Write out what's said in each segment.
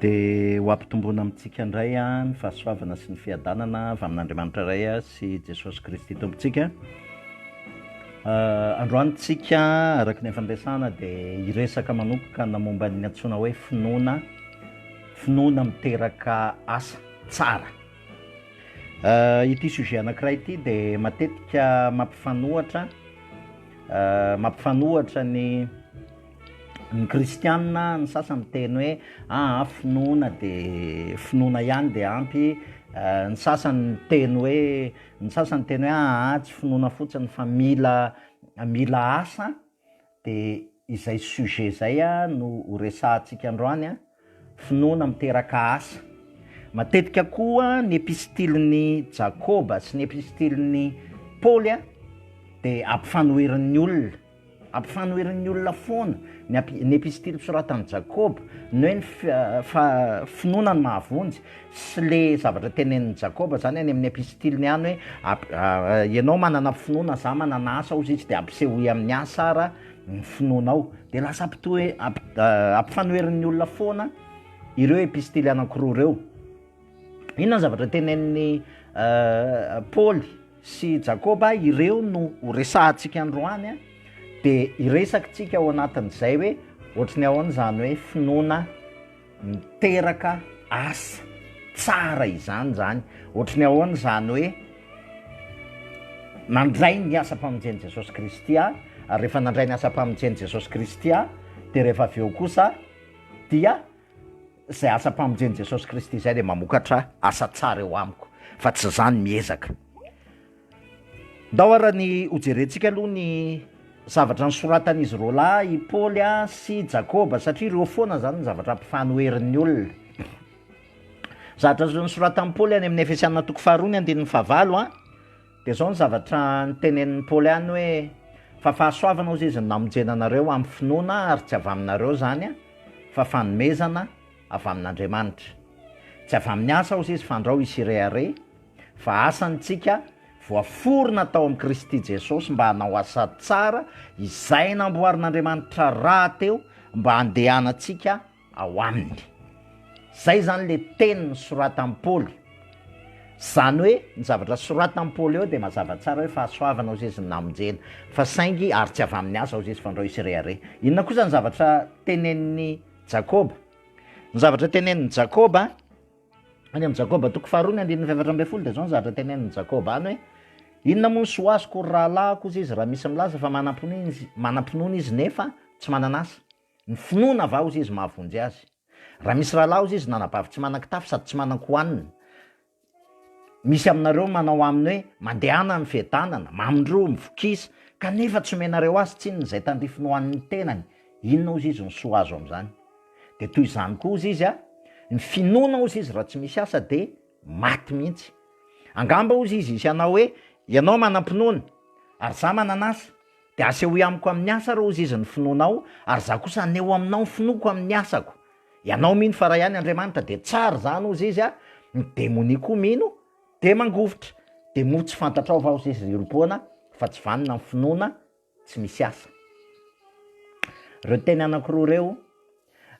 Dia ho ampitomboina amintsika indray ny fahasoavana sy ny fiadanana avy amin'Andriamanitra Ray sy Jesosy Kristy Tompontsika. Androany isika araka ny efa niresahana dia hiresaka manomboka ny momba ny antsoina hoe finoana, finoana miteraka asa tsara. Ity sujet anankiray ity dia matetika mampifanohitra, mampifanohitra ny. Ny kristiana ny sasany miteny hoe aa finoana dia finoana ihany dia ampy, ny sasany miteny hoe ny sasany miteny hoe aa tsy finoana fotsiny fa mila mila asa dia izay sujet izay no ho resahantsika androany an. Finoana miteraka asa. Matetika koa ny epistilin'i Jakoba sy ny epistilin'i Paoly dia ampifanoherin'ny olona, ampifanoherin'ny olona foana ny ap- ny epistily soratan'i Jakoba, ny hoe ny fi- fa- finoana no mahavonjy, sy le zavatra tenenin'i Jakoba zany any amin'ny epistiliny any hoe, ap- ianao manana finoana, za manana asa, hozy izy, de ampisehoy amin'ny asa ara ny finoanao dia lasa ampitoe- ampi- ampifanoheran'ny olona foana ireo epistily anankiroa ireo. Inona ny zavatra tenenin'i Paoly sy Jakoba ireo no ho resahantsika androany a dia hiresakitsika ao anatin'izay hoe ohatry ny ahoana izany hoe finoana miteraka asa tsara izany zany, ohatry ny ahoana izany hoe nandray ny asam-pamonjen'i Jesosy Kristy aho, ary rehefa nandray ny asam-pamonjen'i Jesosy Kristy aho dia rehefa avy eo kosa dia izay asam-pamonjen'i Jesosy Kristy izay dia mamokatra asa tsara eo amiko fa tsy za no miezaka. Ndao ary ny hojerentsika aloha ny zavatra nosoratan'izy roa lahy, i Paoly sy i Jakoba, satria ireo foana izany no zavatra ampifanoherin'ny olona. Zavatra nosoratan'i Paoly any amin'ny Efesiana toko faharoa ny andininy fahavalo an, dia izao ny zavatra notenenin'i Paoly any hoe, fa fahasoavana hozy izy no namonjena anareo amin'ny finoana ary tsy avy aminareo izany an, fa fanomezana avy amin'Andriamanitra. Tsy avy amin'ny asa hozy izy, fandrao hisy hirehareha. Fa asa ny tsika voaforona tao amin'i Kristy Jesosy mba hanao asa tsara izay namboarin'Andriamanitra rahateo mba handehanantsika ao Aminy. Izay izany ilay teny nosoratan'i Paoly. Izany hoe ny zavatra soratan'i Paoly eo dia mazava tsara hoe fahasoavana hozy izy no namonjena. Fa saingy ary tsy avy amin'ny asa hozy izy fandrao hisy rehareha. Inona kosa ny zavatra tenenin'i Jakoba? Ny zavatra tenenin'i Jakoba. Any amin'i Jakoba toko faharoa ny andininy fahefatra ambin'ny folo dia izao ny zavatra tenenin'i Jakoba any hoe, Inona moa ny soa azoko ry rahalahiko, hoy izy, raha misy milaza fa manam-pinoana izy, manam-pinoana izy nefa tsy manana asa? Ny finoana va, hozy izy, mahavonjy azy? Raha misy rahalahy, hozy izy, nanabavy tsy manan-kitafy sady tsy manan-kohanina, misy aminareo manao aminy hoe, Mandehana any fiadanana, mamindroa, mivokisa, kanefa tsy omenareo azy tsinona izay tandrifiny ho an'ny tenany, inona, hozy izy, no soa azo amin'izany? Dia toy izany koa hozy izy ny finoana hozy izy raha tsy misy asa dia maty mihitsy. Angamba hozy izy hisy hanao hoe ianao manam-pinoana ary za manan'asa dia asehoy amiko amin'ny asa ary hozy izy ny finoanao ary za kosa haneho aminao ny finoako amin'ny asako. Ianao mino fa raha ihany Andriamanitra dia tsara izany hozy izy ny demonia koa mino dia mangovitra. Dia moa tsy fantatrao va hozy izy ry olom-poana fa tsy vanona ny finoana Tsy misy asa. Ireo teny anankiroa ireo,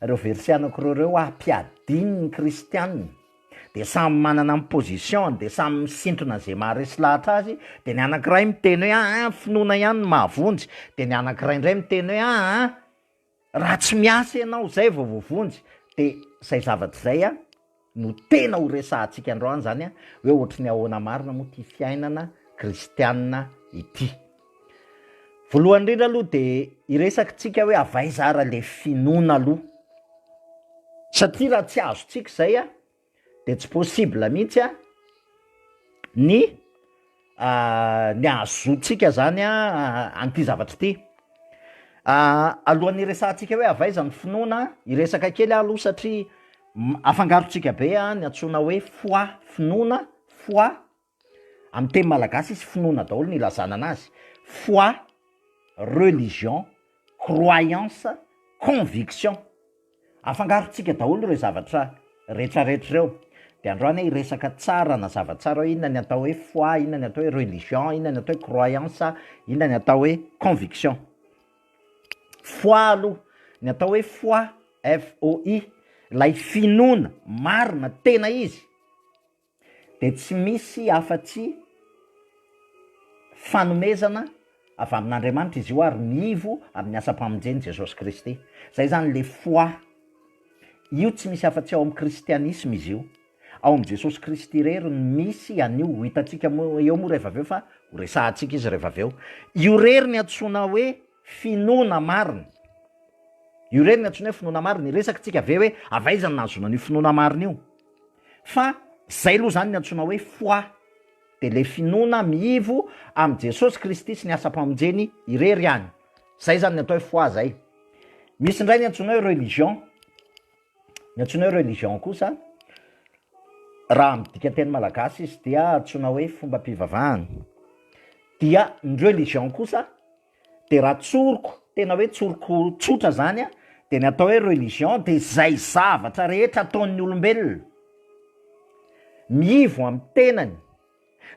ireo verset anankiroa ireo ampiadin' ny kristiana, dia samy manana ny position-ny, dia samy misintona izay maharesy lahatra azy, dia ny anankiray miteny hoe aa finoana ihany no mahavonjy, dia ny anankiray indray miteny hoe aa, Raha tsy miasa ianao zay vao voavonjy de zay zavatra zay a no tena ho resahantsika androany zany a hoe ohatry ny ahoana marina moa ty fiainana kristianina ity. Voalohany indrindra aloha de hiresakintsika hoe avy aiza ara le finoana aloha satria raha tsy azontsika zay a de tsy possible mihitsy a, ny ny ahazoantsika zany an'ity zavatra ity, alohan'ny hiresahantsika hoe avy aiza ny finoana, hiresaka kely aho aloha satria afangarontsika be ny antsoina hoe foi, finoana, foi. Amin'ny teny malagasy izy finoana daholo no ilazana anazy, foi, religion, croyance, conviction. Afangarontsika daholo ireo zavatra retraretra ireo. Dia androany aho hiresaka tsara anazava tsara hoe inona ny atao hoe foi, inona ny atao hoe religion, inona ny atao hoe croyance, inona ny atao hoe conviction. Foi aloha, ny atao hoe foi, FOI, ilay finoana marina tena izy dia tsy misy afa-tsy fanomezana avy amin'Andriamanitra izy io ary miivo amin'ny asam-pamonjen'i Jesosy Kristy. Izay izany le foi. Io tsy misy afa-tsy ao amin'ny kristianisma izy io. Ao amin'i Jesosy Kristy irery no misy an'io. Ho hitantsika eo moa rehefa avy eo fa ho resahantsika izy rehefa avy eo. Io irery no antsoina hoe finoana marina. Io re no antsoina hoe finoana marina, hiresaka tsika ve hoe avy aiza no nahazoana an'io finoana marina io? Fa zay aloha zany ny antsoina hoe foi, de le finoana miivo amin'i Jesosy Kristy sy ny asam-pamonjeny irery ihany, zay zany ny atao hoe foi zay. Misy indray ny antsoina hoe religion. Ny antsoina hoe religion kosa, raha amin'ny dikanteny malagasy izy dia antsoina hoe fombam-pivavahana. Dia ny religion kosa dia raha tsoriko, tena hoe tsoriko tsotra zany an, dia ny atao hoe religion dia izay zavatra rehetra ataon'ny olombelona, miivo amin'ny tenany,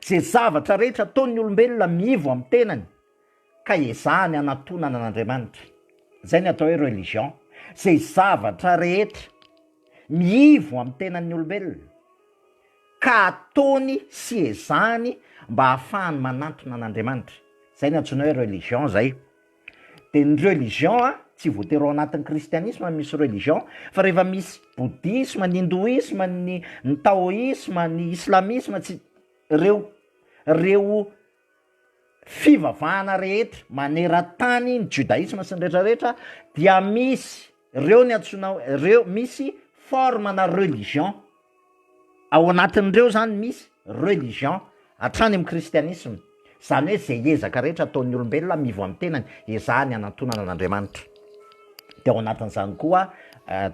izay zavatra rehetra ataon'ny olombelona miivo amin'ny tenany, ka ezahany hanatonana an'Andriamanitra, izay ny atao hoe religion, izay zavatra rehetra miivo amin'ny tenan'ny olombelona, ka ataony sy ezahany mba hahafahany manantona an'Andriamanitra, izay ny antsoina hoe religion izay, dia ny religion an, tsy voatery ao anatin'ny kristianisma no misy religion, fa rehefa misy bodisma, ny hindoisma, ny ny taoisma, ny islamisma, tsy, ireo ireo fivavahana rehetra maneran-tany ny Jodaisma sy ny rehetra rehetra dia misy reo ny antsoina reo misy forme na religion ao anatin'ireo zany misy religion hatrany amin'ny kristianisma zany hoe ze ezaka rehetra ataon'ny olombelona mivo amin'ny tenany ezahany hanantonana an'Andriamanitra de ao anatin'izany koa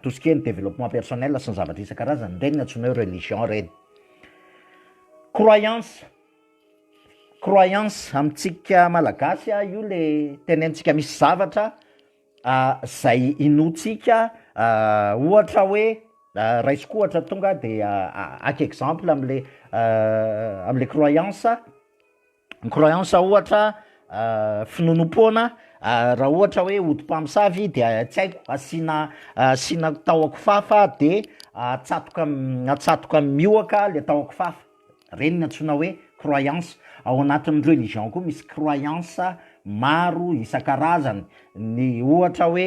tout ce qui est ny développement personnel sy ny zavatra isan-karazany reny ny antsoina hoe religion reny croyance Croyance amintsika malagasy io le tenentsika misy zavatra zay inoantsika ohatra hoe raisiko ohatra tonga de aky exemple amle amle croyance, ny croyance ohatra finoanoam-poana raha ohatra hoe ody mpamosavy de tsy haiko asiana asiana tahon-kifafa de atsatoka atsatoka mihohoka le tahon-kifafa. Ireny no antsoina hoe croyance. Ao anatin'ny religion koa misy croyance maro isan-karazany. Ny ohatra hoe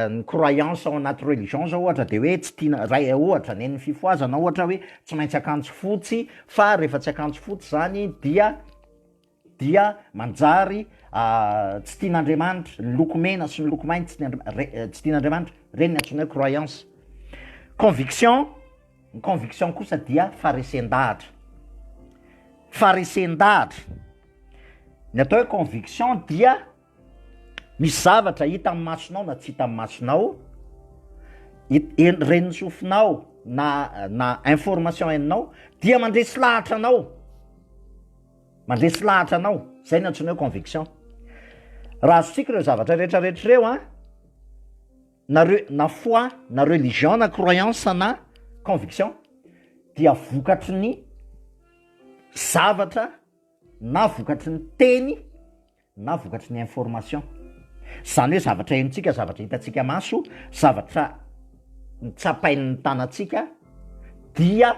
ny croyance ao anaty religion zao ohatra dia hoe tsy tiana, ray ohatra ny an'ny fifohazana ohatra hoe tsy maintsy akanjo fotsy fa rehefa tsy akanjo fotsy zany dia dia manjary tsy tian'Andriamanitra ny loko mena sy ny loko mainty tsy tian'Andriamanitra, tsy tian'Andriamanitra, ireny ny antsoinay croyance. Conviction, ny conviction kosa dia faharesen-dahatra, faharesen-dahatra, ny atao hoe conviction dia misy zavatra hita amin'ny masonao na tsy hita amin'ny masonao, ren'ny sofinao na na information henonao dia mandresy lahatra anao. Mandresy lahatra anao, zay ny antsoina hoe conviction. Raha azontsika ireo zavatra rehetra rehetra ireo an, na re- na foi, na religion, na croyance, na conviction, dia vokatry ny zavatra na vokatry ny teny na vokatry ny information, izany hoe zavatra henontsika, zavatra hitantsika maso, zavatra tsapain'ny tanantsika, dia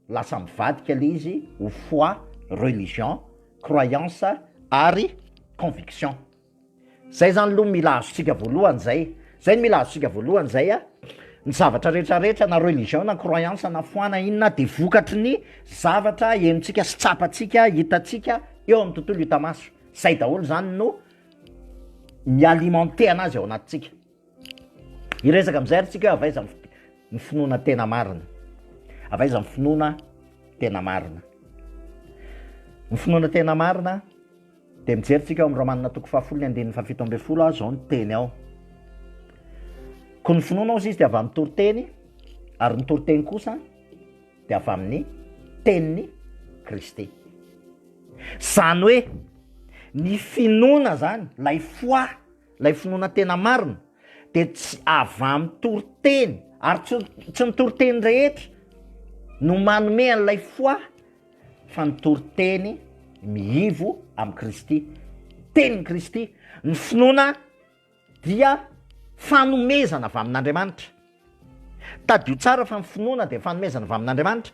lasa mivadika ilay izy ho foi, religion, croyance ary conviction. Izay izany aloha mila azontsika voalohany izay Zay no mila azontsika voalohany zay a, ny zavatra rehetra rehetra na religion na croyance na foi na inona de vokatry ny zavatra henontsika sy tsapantsika, hitantsika eo amin'ny tontolo hita maso, zay daholo zany no mi-alimenter anazy ao anatintsika. Hiresaka amizay ary tsika hoe avy aiza ny fi- ny finoana tena marina, avy aiza ny finoana tena marina. Ny finoana tena marina. Dia mijery tsika ao amin'ny Romanina toko fahafolo ny andininy fahafito ambin'ny folo aho zao ny teny ao. Koa ny finoana ozy izy dia avy amin'ny toriteny ary ny toriteny kosa dia avy amin'ny teniny Kristy. Zany hoe ny finoana zany, lay foa, lay finoana tena marina dia tsy avy amin'ny toriteny ary tsy ny toriteny rehetra no manome an'ilay foa fa ny toriteny mihivo amin'i Kristy, tenin'i Kristy, ny finoana dia fanomezana avy amin'Andriamanitra. Tadidio tsara fa ny finoana dia fanomezana avy amin'Andriamanitra.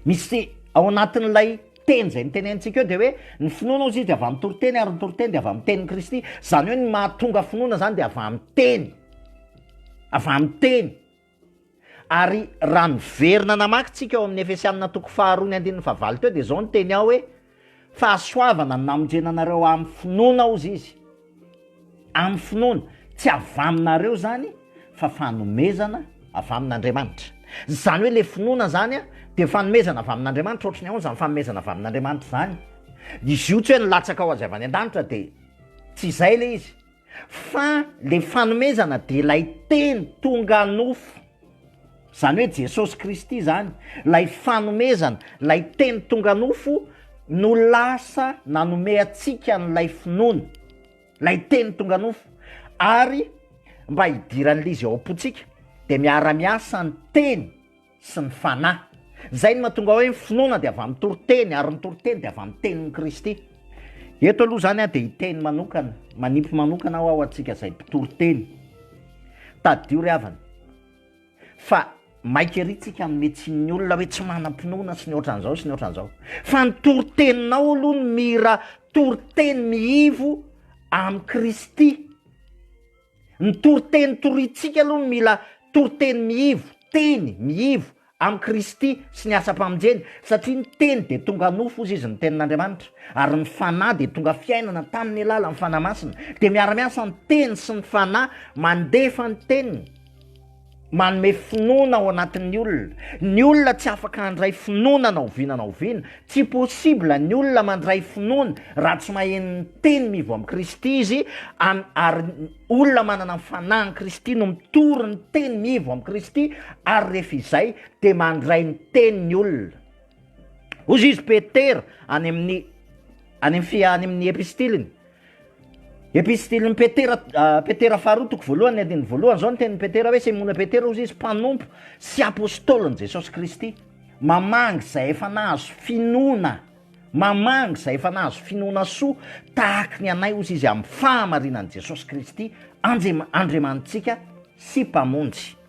Misy ao anatin'ilay teny izay nitenenintsika eo dia hoe ny finoana ozy dia avy amin'ny toriteny ary ny toriteny dia avy amin'ny tenin'i Kristy. Izany hoe ny mahatonga finoana izany dia avy amin'ny teny, avy amin'ny teny. Ary raha miverina namaky tsika ao amin'ny Efesianina toko faharoa ny andininy fahavalo teo dia izao ny teny ao hoe fahasoavana no namonjena anareo amin'ny finoana hozy izy, amin'ny finoana, tsy avy aminareo izany fa fanomezana avy amin'Andriamanitra. Izany hoe ilay finoana izany an, dia fanomezana avy amin'Andriamanitra, ohatry ny ahoana izany fanomezana avy amin'Andriamanitra izany? Izy io tsy hoe nilatsaka ho azy avy any an-danitra dia tsy izay ilay izy, fa le fanomezana de lay teny tonga nofo zany hoe Jesosy Kristy zany lay fanomezana lay teny tonga nofo no lasa nanome antsika an'ilay finoana lay teny tonga nofo ary mba hidiran'le izy ao am-pontsika de miara-miasa ny teny sy ny Fanahy. Izay no mahatonga hoe ny finoana dia avy amin'ny toriteny ary ny toriteny dia avy amin'ny tenin'i Kristy. Eto aloha izany dia hiteny manokana, manipy manokana aho ho antsika izay mpitory teny. Tadidio ry havana fa maika ery tsika amin'ny metsin'ny olona hoe tsy manam-pinoana sy ny ohatran'izao sy ny ohatran'izao. Fa ny toriteninao aloha ny mira toriteny mihivo amin'i Kristy. Ny toriteny toriantsika aloha no mila toriteny mihivo, teny mihivo amin'i Kristy sy ny asam-pamonjeny, satria ny Teny dia tonga nofo, hozy Izy, ny Tenin'Andriamanitra, ary ny Fanahy dia tonga fiainana tamin'ny alalan'ny Fanahy Masina. Dia miara-miasa ny Teny sy ny Fanahy mandefa ny Teniny. Manome finoana ao anatin'ny olona. Ny olona tsy afaka handray finoana na oviana na oviana. Tsy possible ny olona mandray finoana raha tsy maheno ny teny mivo amin'i Kristy izy, an, ary ny olona manana ny fanahin'i Kristy no mitory ny teny mivo amin'i Kristy, ary rehefa izay dia mandray ny teny ny olona. Hoy izy Petera any amin'ny any amin'ny fi- any amin'ny epistiliny, Epistilin'i Petera, Petera faharoa toko voalohany andininy voalohany, izao ny tenin'i Petera hoe Simona Petera hozy izy mpanompo sy apôstôlin'i Jesosy Kristy, mamangy izay efa nahazo finoana, mamangy izay efa nahazo finoana soa tahaky ny anay hozy izy amin'ny fahamarinan'i Jesosy Kristy Andriamanitsika sy Mpamonjy.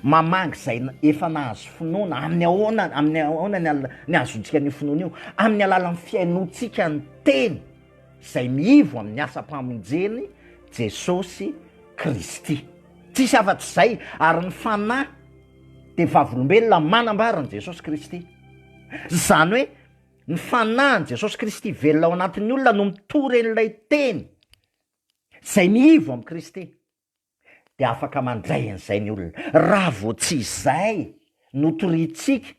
Mamangy izay efa nahazo finoana. Amin'ny ahoana, amin'ny ahoana ny al- ny ahazoantsika an'io finoana io? Amin'ny alalan'ny fihainoantsika ny teny izay miivo amin'ny asam-pamonjen'i Jesosy Kristy. Tsisy afa-tsy izay, ary ny Fanahy dia vavolombelona manambara an'i Jesosy Kristy. Izany hoe, ny Fanahin'i Jesosy Kristy velona ao anatin'ny olona no mitory an'ilay teny izay miivo amin'i Kristy. dia afaka mandray an'izay ny olona. Raha vao tsy izay no toriantsika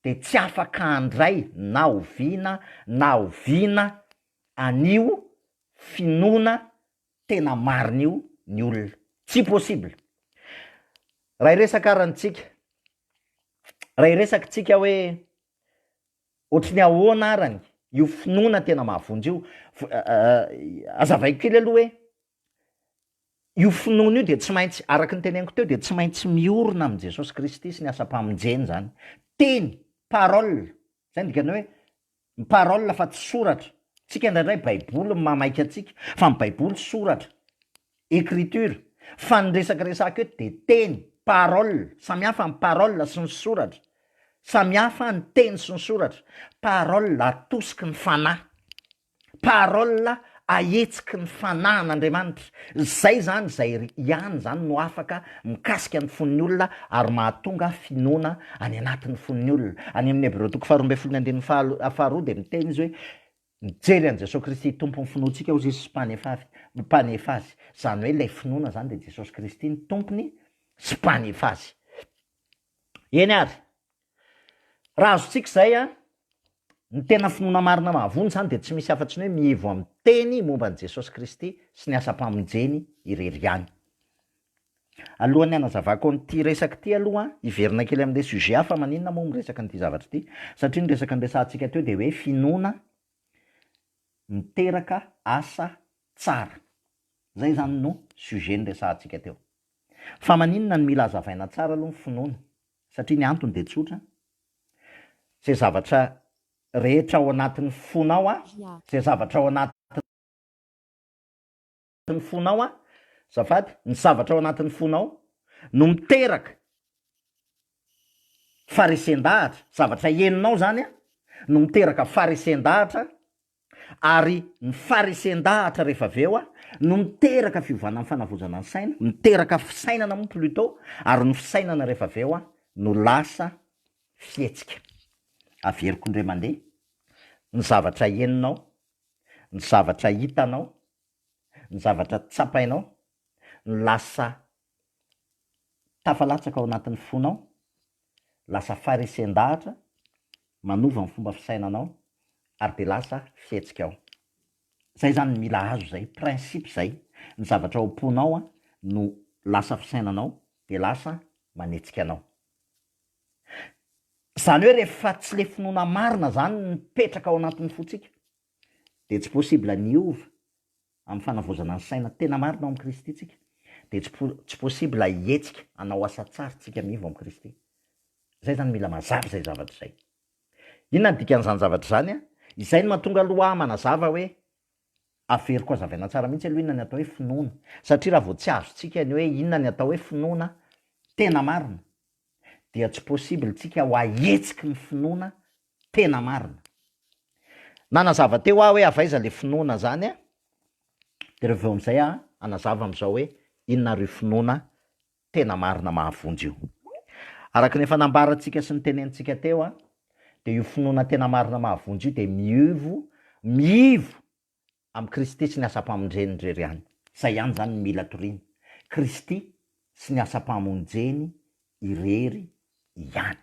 dia tsy afaka handray na oviana na oviana an'io finoana tena marina io ny olona. Tsy possible. Raha hiresaka ary antsika, raha hiresaka isika hoe ohatry ny ahoana arany io finoana tena mahavonjy io, azavaiko kely aloha hoe Io finoana io dia tsy maintsy, araka ny teneniko teo, dia tsy maintsy miorina amin'i Jesosy Kristy sy ny asam-pamonjeny izany. Teny, parole, izay ny dikany hoe parole fa tsy soratra. Tsika indraindray Baiboly no mahamaika antsika, fa ny Baiboly soratra, écriture. Fa ny resaka resahiko eto dia teny, parole, samy hafa ny parole sy ny soratra. Samy hafa ny teny sy ny soratra. Parole atosiky ny Fanahy. Parole ahetsiky ny fanahin' Andriamanitra, zay zany zay ry ihany zany no afaka mikasika ny fon'ny olona ary mahatonga finoana any anatin'ny fon'ny olona, any amin'ny Hebreo toko faharoa ambin'ny folo ny andininy faha faharoa dia miteny izy hoe mijery an'i Jesosy Kristy Tompon'ny finoantsika ozy izy sy mpanefavy mpanefa azy, zany hoe ilay finoana zany dia Jesosy Kristy no Tompony sy Mpanefa azy. Eny ary. Raha azontsika izay an, ny tena finoana marina mahavonjy izany dia tsy misy afa-tsy ny hoe mihevo amin'ny teny momba an'i Jesosy Kristy sy ny asam-pamonjeny irery ihany. Alohan'ny hanazavako an'ity resaka ity aloha, hiverina kely amin'ilay sujet hafa, maninona moa miresaka an'ity zavatra ity? Satria ny resaka niresahantsika teo dia hoe finoana miteraka asa tsara. Izay izany no sujet niresahantsika teo. Fa maninona no mila hazavaina tsara aloha ny finoana? Satria ny antony dia tsotra, izay zavatra rehetra ao anatin'ny fonao a, izay zavatra ao anatin'ny fonao a, azafady, ny zavatra ao anatin'ny fonao no miteraka faharesen-dahatra, zavatra henonao izany a, no miteraka faharesen-dahatra Ary ny farisen-dahatra rehefa avy eo no miteraka fiovana amin'ny fanavozana ny saina, miteraka fisainana moa plutot, ary ny fisainana rehefa avy eo no lasa fihetsika. Averiko indray mandeha ny zavatra henonao, ny zavatra hitanao, ny zavatra tsapainao no lasa tafalatsaka ao anatin'ny fonao, lasa farisen-dahatra, manova ny fomba fisainanao ary dia lasa fihetsika ao. Izay izany no mila azo izay, principe izay, ny zavatra ao am-ponao no lasa fisainanao dia lasa manetsika anao. Izany hoe rehefa tsy le finoana marina izany no mipetraka ao anatin'ny fontsika dia tsy possible ny hiova Amin'ny fanavaozana ny saina tena marina ao amin'i Kristy tsika, dia tsy po, tsy possible hihetsika hanao asa tsara tsika anie vao amin'i Kristy. Izay izany mila mazava izay zavatra izay. Inona ny dikan'izany zavatra izany an? Izay no mahatonga aloha ahy manazava hoe, averiko hazavaina tsara mihitsy aloha inona ny atao hoe finoana. Satria raha vao tsy azontsika ny hoe inona ny atao hoe finoana tena marina, dia tsy possible tsika ho ahetsiky ny finoana Tena marina. Nanazava teo aho hoe avy aiza le finoana zany a, de reveo amizay aho hanazava amizao hoe inona ary io finoana tena marina mahavonjy io. Araka ny efa nambarantsika sy nitenenitsika teo a, de io finoana tena marina mahavonjy io de miivo, miivo Amin'i Kristy sy ny asam-pamondreny irery ihany. Izay ihany izany no mila toriana. Kristy sy ny asam-pamonjeny irery ihany.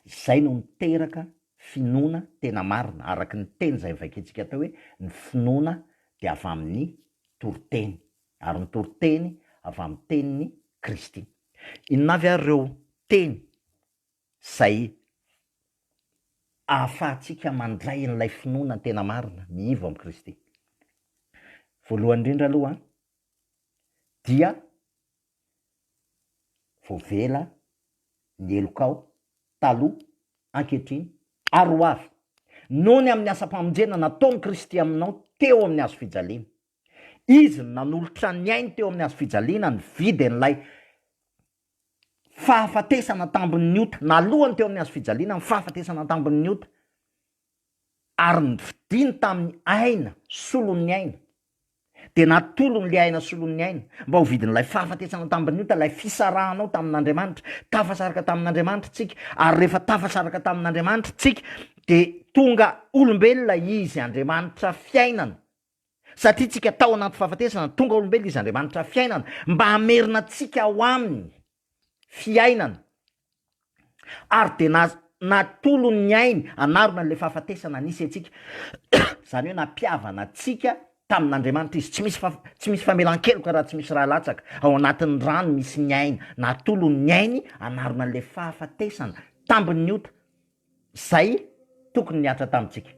Izay no miteraka finoana tena marina, araka ny teny izay novakintsika teo hoe ny finoana dia avy amin'ny toriteny, ary ny toriteny avy amin'ny tenin'i Kristy. Inona avy ary ireo teny? izay ahafahantsika mandray an'ilay finoana tena marina miivo amin'i Kristy. Voalohany indrindra aloha dia voavela ny helokao taloha, ankehitriny ary ho avy noho ny amin'ny asam-pamonjena nataon'i Kristy aminao teo amin'ny hazo fijaliana. Izy no nanolotra ny ainy teo amin'ny hazo fijaliana nividy an'ilay fahafatesana an-tambon'ny ota, na alohany teo amin'ny hazofijaliana, ny fahafatesana an-tambon'ny ota, ary novidiany tamin'ny aina solon'ny aina, dia natolony ilay aina solon'ny aina mba ho vidin'ilay fahafatesana an-tambon'ny ota, ilay fisarahanao tamin'Andriamanitra, tafasaraka tamin'Andriamanitra tsika, ary rehefa tafasaraka tamin'Andriamanitra tsika dia tonga olombelona Izy, Andriamanitra fiainana, Satria tsika tao anaty fahafatesana, tonga olombelona izy Andriamanitra fiainana mba hamerina antsika ao aminy fiainana ary dia na natolony ny ainy hanarona an'ilay fahafatesana nisy antsika, izany hoe nampihavana antsika tamin'Andriamanitra izy, tsy misy tsy misy famelan-keloka raha tsy misy ra latsaka, ao anatin'ny ra no misy ny aina, natolony ny ainy hanarona an'ilay fahafatesana tambin'ny ota. izay tokony nihatra tamintsika.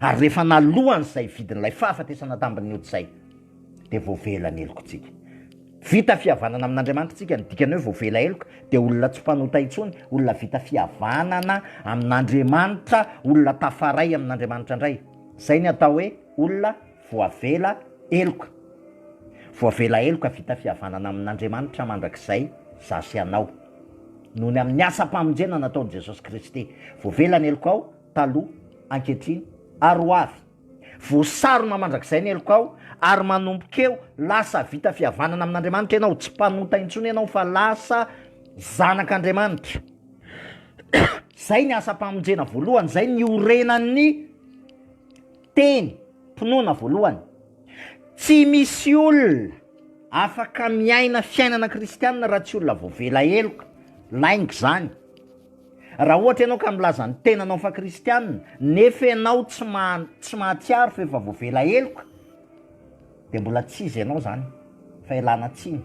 Ary rehefa naloan'izay vidin'ilay fahafatesana tambin'ny ody izay, dia voavela ny helokontsika. Vita fihavanana amin'Andriamanitra isika, ny dikany hoe voavela heloka dia olona tsy mpanota intsony, olona vita fihavanana amin'Andriamanitra, olona tafaray amin'Andriamanitra indray. Izay ny atao hoe olona. Voavela heloka. Voavela heloka vita fihavanana amin'Andriamanitra mandrakizay za sy ianao, noho ny amin'ny asam-pamonjena nataon'i Jesosy Kristy. Voavela ny helokao, taloha, ankehitriny, ary ho avy. Voasarona mandrakizay ny helokao, ary manomboka eo, lasa vita fihavanana amin'Andriamanitra ianao, tsy mpanota intsony ianao fa lasa zanak'Andriamanitra. Izay ny asam-pamonjena voalohany, izay ny iorenan'ny Teny, Mpinoana voalohany, Tsy misy olona afaka miaina fiainana kristianina raha tsy olona voavela heloka, lainga izany. Raha ohatra ianao ka milaza ny tenanao fa kristianina, nefa ianao tsy maha, tsy mahatsiaro fa efa voavela heloka, dia mbola tsy iza ianao izany, fa ialana tsiny.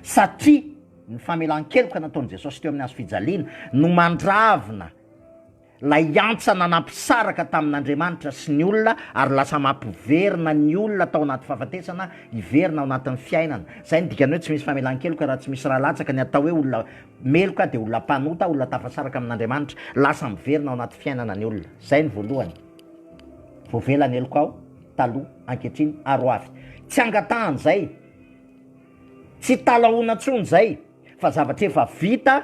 Satria ny famelan-keloka nataon'i Jesosy teo amin'ny hazo fijaliana no mandravina. Ilay antsa nanampisaraka tamin'Andriamanitra sy ny olona ary lasa mampiverina ny olona tao anaty fahafatesana hiverina ao anatin'ny fiainana. Izay no dikany hoe tsy misy famelan-keloka raha tsy misy ra latsaka. Ny atao hoe olona meloka dia olona mpanota, olona tafasaraka amin'Andriamanitra. Lasa miverina ao anaty fiainana ny olona. Izay ny voalohany. Voavela ny heloka ao taloha, ankehitriny ary ho avy. Tsy angatahana izay. Tsy talahoana intsony izay fa zavatra efa vita.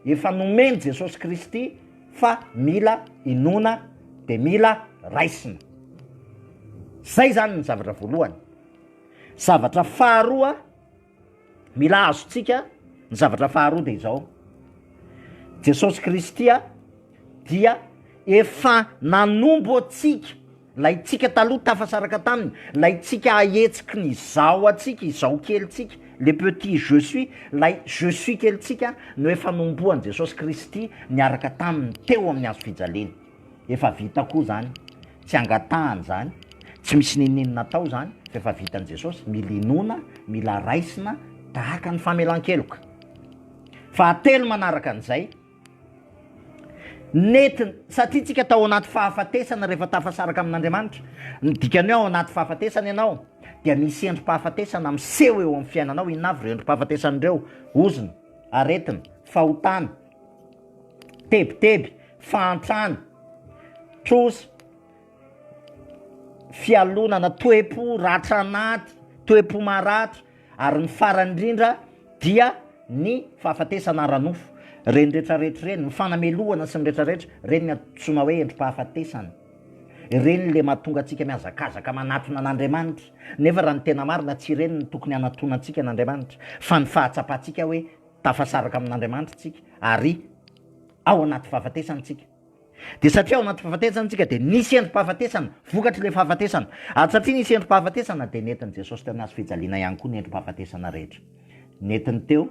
efa nomen'i Jesosy Kristy fa mila inoana dia mila raisina. Izay izany ny zavatra voalohany. Zavatra faharoa mila azontsika, ny zavatra faharoa dia izao, Jesosy Kristy dia efa nanombo antsika Laintsika taloha tafasaraka taminy, laintsika ahetsiky ny izaho antsika, izaho kelintsika, le petit je suis, lay je suis kelintsika no efa nombohan'i Jesosy Kristy niaraka taminy teo amin'ny hazo fijaliana. Efa vita koa izany, tsy angatahana izany, tsy misy n'inon'inona atao izany fa efa vitan'i Jesosy, mila inoana, mila raisina tahaka ny famelan-keloka. Fahatelo manaraka an'izay, Nety satria tsika tao anaty fahafatesana rehefa tafasaraka amin'Andriamanitra, ny dikany hoe ao anaty fahafatesana ianao dia misy endri-pahafatesana miseho eo amin'ny fiainanao, inona avy ireo endri-pahafatesana ireo, ozona, aretina, fahotana, tebiteby, fahantrana, trosa, fialonana, toe-po ratra anaty, toe-po maratra, Ary ny farany indrindra dia ny fahafatesana ara-nofo. Ireny retraretra ireny, ny fanamelohana sy ny retraretra, ireny no antsoina hoe endri-pahafatesana. Ireny ilay mahatonga antsika mihazakazaka manatona an'Andriamanitra, nefa raha ny tena marina tsy ireny no tokony hanatona antsika an'Andriamanitra, fa ny fahatsapantsika hoe tafasaraka amin'Andriamanitra isika ary ao anaty fahafatesana isika. Dia satria ao anaty fahafatesana isika dia nisy endri-pahafatesana, vokatr'ilay fahafatesana. Ary satria nisy endri-pahafatesana dia nentin'i Jesosy teo amin'ny hazo fijaliana ihany koa ny endri-pahafatesana rehetra. Nentiny teo,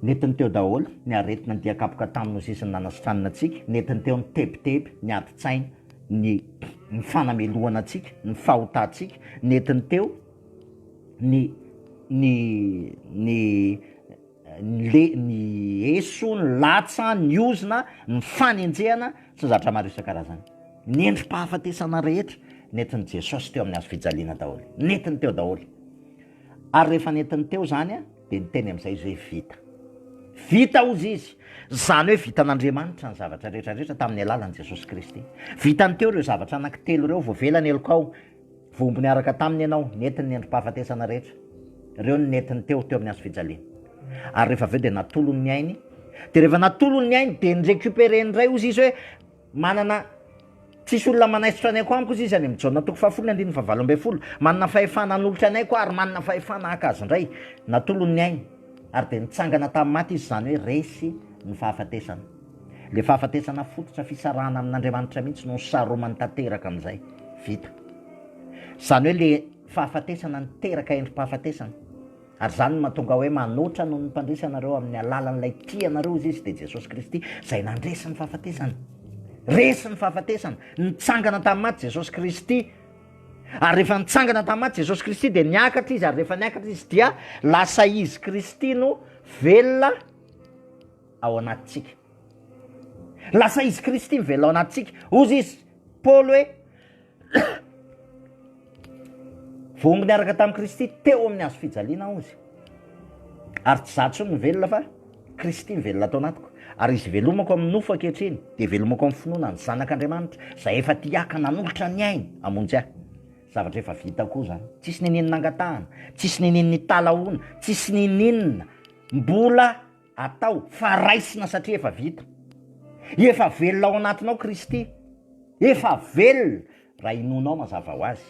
nentiny teo daholo ny aretina, ny dian-kapoka taminy ho sisin'ny nanasitranana antsika, nentiny teo ny tebiteby, ny adin-tsaina, ny ny fanamelohana antsika, ny fahotantsika, nentiny teo ny ny ny le, ny eso, ny latsa, ny ozona, ny fanenjehana, sy ny zavatra maro isan-karazany. Ny endri-pahafatesana rehetra nentin'i Jesosy teo amin'ny hazo fijaliana daholo, nentiny teo daholo. Ary rehefa nentiny teo izany, dia niteny amin'izay izy hoe vita. Vita, hozy izy. Izany hoe vitan'Andriamanitra ny zavatra rehetra rehetra tamin'ny alalan'i Jesosy Kristy. Vitany teo ireo zavatra anankitelo ireo, voavela ny helokao. Voa mbo niaraka taminy ianao, nety ny nendri-pahafatesana rehetra, ireo no nentiny teo, teo amin'ny hazo fijaliana. Ary rehefa avy eo dia natolony ny ainy, dia rehefa natolony ny ainy dia ni-recuperer indray ozy izy hoe manana Tsisy olona manaisotra anay koa amiko ozy izy any amin'ny Jaona toko fahafolo ny andininy fahavalo ambin'ny folo, manana fahefana hanolotra anay koa ary manana fahefana haka azy indray, natolony ny ainy, ary dia nitsangana tamin'ny maty izy, izany hoe resy ny fahafatesana. Ilay fahafatesana fototra fisarahana amin'Andriamanitra mihitsy no saromany tanteraka amin'izay. Vita. Izany hoe ilay fahafatesana niteraka endri-pahafatesana. Ary izany no mahatonga ahy hoe manoatra noho ny mpandresy anareo amin'ny alalan'ilay tia anareo hoy Izy, dia Jesosy Kristy izay nandresy ny fahafatesana. Resy ny fahafatesana. Nitsangana tamin'ny maty Jesosy Kristy. Ary rehefa nitsangana tamin'ny maty Jesosy Kristy dia niakatra Izy, ary rehefa niakatra Izy dia lasa Izy Kristy no velona. ao anatintsika. Lasa izy Kristy mivelona ao anatintsika. Hozy izy Paoly hoe, Voangy niaraka tamin'i Kristy teo amin'ny hazo fijaliana aho, hozy. Ary tsy izaho intsony no velona fa Kristy mivelona ato anatiko. Ary izy velomako amin'ny nofo ankehitriny, dia velomako amin'ny finoana ny Zanak'Andriamanitra, izay efa tia ahy ka nanolotra ny ainy hamonjy ahy. Zavatra efa vita koa izany. Tsisy n'inon'inona angatahana, tsisy n'inon'inona italahoana, tsisy n'inon'inona mbola Atao fa raisina satria efa vita. Efa velona ao anatinao Kristy. Efa velona raha inoanao mazava ho azy.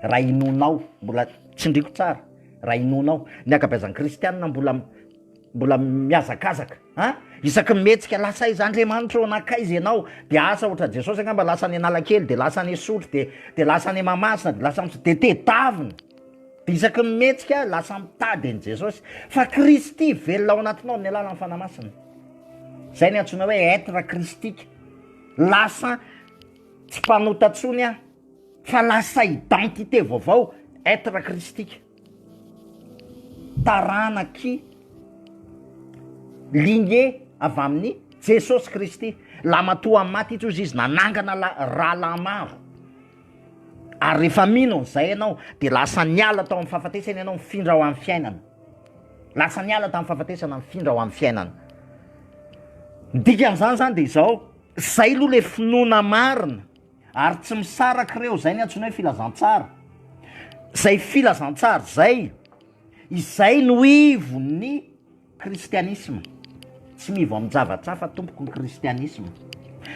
Raha inoanao, mbola tsindriako tsara, raha inoanao. Ny ankabeazan'ny kristiana mbola mbola mihazakazaka an, isaky ny mihetsika lasa aiza Andriamanitra ô, nankaiza ianao? Dia asa ohatran'i Jesosy angamba lasa any Analakely, dia lasa any Isotry, dia dia lasa any Mahamasina, dia lasa any, dia tedavina. Isaky ny mihetsika, lasa mitady an'i Jesosy. Fa Kristy velona ao anatinao amin'ny alalan'ny Fanahy Masina. Izay ny antsoina hoe être christique. Lasa tsy mpanota intsony aho, fa lasa identité vaovao, être christique. Taranaky lignée avy amin'i Jesosy Kristy. Lamatoa maty tsy hozy izy nanangana rahalahy maro. ary rehefa mino an'izay ianao dia lasa niala tao amin'ny fahafatesana ianao mifindra ho amin'ny fiainana, lasa niala tamin'ny fahafatesana mifindra ho amin'ny fiainana, ny dikan'izany zany dia izao, zay aloha le finoana marina ary tsy misaraka ireo, zay ny antsoina hoe filazantsara, zay filazantsara zay, izay no ivon'ny. Kristianisma, Tsy mivo amin-javatra hafa tompoko ny kristianisma,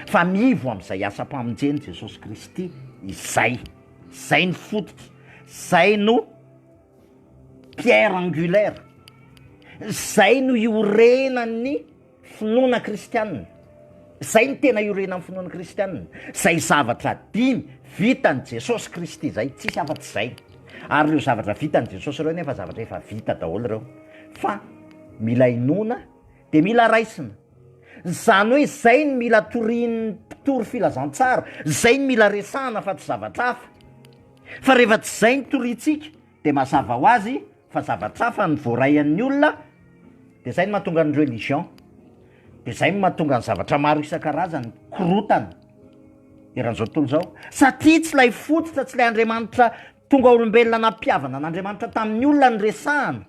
fa mivo amin'izay asam-pamonjen'i Jesosy Kristy izay. Izay no fototry, izay no pierre angulaire, izay no iorenan'ny finoana kristianina. Izay no tena iorenan'ny finoana kristiana, izay zavatra dimy vitan'i Jesosy Kristy izay, tsisy afa-tsy izay. Ary ireo zavatra vitan'i Jesosy ireo nefa zavatra efa vita daholo ireo, fa mila inoana dia mila raisina. Izany hoe izay no mila torian'ny mpitory filazantsara, izay no mila resahana fa tsy zavatra hafa. Fa rehefa tsy izay no toriantsika, Dia mazava ho azy fa zavatra hafa ny voaray an'ny olona, dia izay no mahatonga ny religion, dia izay no mahatonga ny zavatra maro isan-karazany mikorontana eran'izao tontolo izao, satria tsy ilay fototra, tsy ilay Andriamanitra tonga olombelona nampihavana an'Andriamanitra tamin'ny olona no resahana,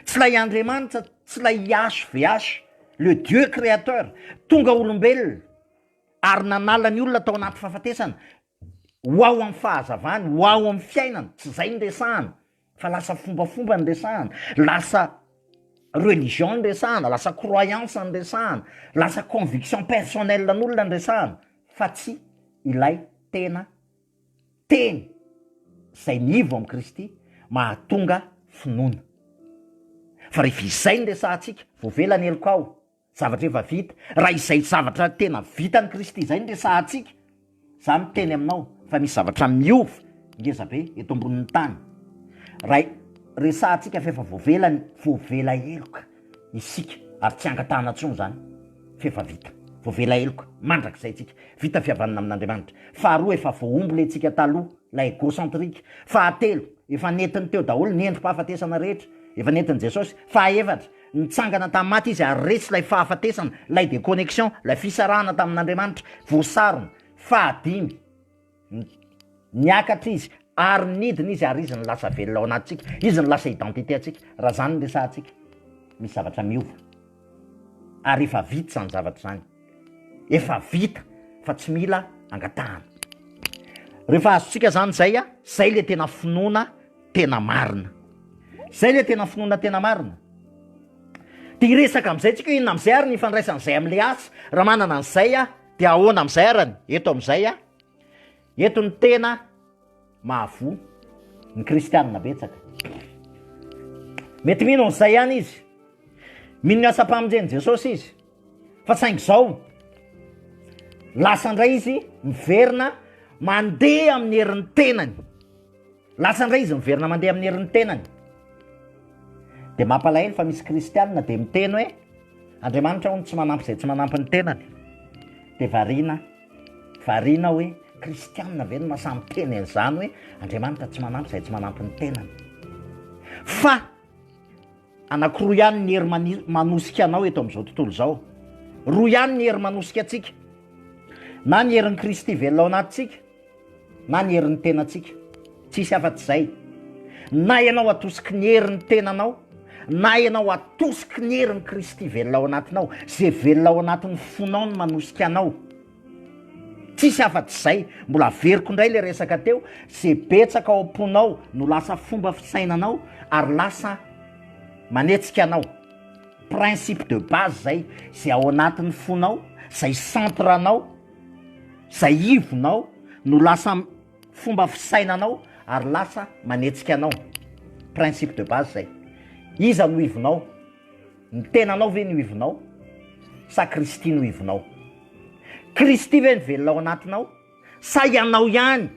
tsy ilay Andriamanitra, tsy ilay YHVH, le Dieu créateur, tonga olombelona ary nanala ny olona tao anaty fahafatesana, ho ao amin'ny fahazavany, ho ao amin'ny fiainany, tsy izay ny resahana fa lasa fombafomba ny resahana, lasa religion ny resahana, lasa croyance ny resahana, lasa conviction personnelle an'olona ny resahana fa tsy ilay tena teny izay nivo amin'i Kristy mahatonga finoana, fa rehefa izay no resahantsika voavela ny helokao. Zavatra efa vita. Raha izay zavatra tena vitan'i Kristy izay no resahantsika, izaho miteny aminao fa misy zavatra miova ngeza be eto ambonin'ny tany. Raha resahantsika fa efa voavela ny, voavela heloka isika ary tsy angatahana intsony izany fa efa vita. Voavela heloka mandrakizay isika. Vita fihavanana amin'Andriamanitra. Faharoa, efa voahombo ilay tsika taloha, ilay egocentrique. Fahatelo, efa nentiny teo daholo ny endri-pahafatesana rehetra, efa nentin'i Jesosy. Fahefatra, Nitsangana tamin'ny maty izy ary resy ilay fahafatesana, ilay déconnexion, ilay fisarahana tamin'Andriamanitra, voasarona. Fahadimy, Niakatra izy ary nidina izy ary izy no lasa velona ao anatintsika, izy no lasa identité antsika. Raha izany no resahantsika, misy zavatra miova ary efa vita izany zavatra izany, efa vita fa tsy mila angatahana. Rehefa azontsika izany izay, izay ilay tena finoana. tena marina. Zay le tena finoana tena marina. De hiresaka amizay tsika hoe inona amizay ary ny ifandraisany zay amle asa, raha manana anizay aho de ahoana amizay arany eto amizay aho. Eto ny tena mahavoa ny kristianina betsaka. Mety mino anizay ihany izy, mino ny asam-pamonjeny Jesosy izy fa saingy zao lasa ndray izy miverina mandeha amin'ny herin'ny tenany. Lasa indray izy miverina mandeha amin'ny herin'ny tenany. Dia mampalahelo fa misy kristianina dia miteny hoe, Andriamanitra hono tsy manampy izay tsy manampy ny tenany. Dia variana, variana aho hoe, Kristianina ve no mahasahy miteny an'izany hoe, Andriamanitra tsy manampy izay tsy manampy ny tenany? Fa. Anankiroa ihany ny hery manosika anao eto amin'izao tontolo izao. Roa ihany ny hery manosika antsika. Na ny herin'i Kristy velona ao anatintsika, na ny herin'ny tenantsika. Tsisy afa-tsy izay. Na ianao atosiky ny herin'ny tenanao, na ianao atosiky ny herin'i Kristy velona ao anatinao. Izay velona ao anatin'ny fonao no manosika anao. Tsisy afa tsy zay. Mbola averiko indray le resaka teo, ze betsaka ao am-ponao no lasa fomba fisainanao ary lasa manetsika anao. Principe de base zay, ze ao anatin'ny fonao, zay centre anao, zay ivonao no lasa fomba fisainanao ary lasa manetsika anao. Principe de base zay. Iza no ivonao? Ny tenanao ve no ivinao sa Kristy no ivinao? Kristy ve no velona ao anatinao sa ianao ihany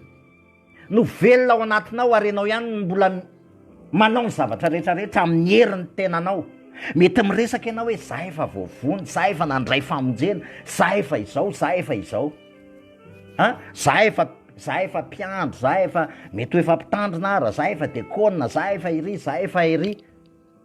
no velona ao anatinao ary ianao ihany no mbola manao ny zavatra rehetra rehetra amin'ny herin'ny tenanao? Mety miresaka ianao hoe za efa voavono, za efa nandray famonjena, za efa izao, za efa izao a, za efa za efa mpiandry, za efa mety ho efa mpitandrina ara, za efa dekona, za efa iry, za efa iry.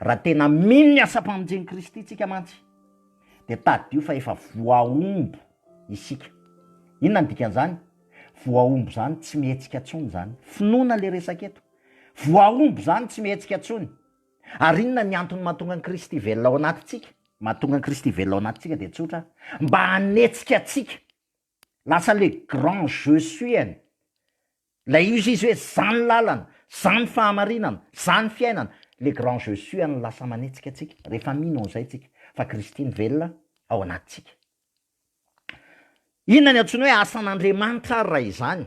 Raha tena mino ny asam-pamonjen'i Kristy isika mantsy, dia tadidio fa efa voahombo isika. Inona ny dikan'izany? Voahombo izany tsy mihetsika intsony izany. Finoana ilay resaka eto. Voahombo izany tsy mihetsika intsony. Ary inona ny antony mahatonga an'i Kristy velona ao anatintsika? Mahatonga an'i Kristy velona ao anatintsika dia tsotra, mba hanetsika antsika Lasa le grand je suis any. Lay izy izy hoe za ny lalana, za ny fahamarinana, za ny fiainana. Le grand je suis any lasa manetsika antsika rehefa mino an'izay tsika fa Kristy no velona ao anatintsika. Inona ny antsoina hoe asan'Andriamanitra ary raha izany?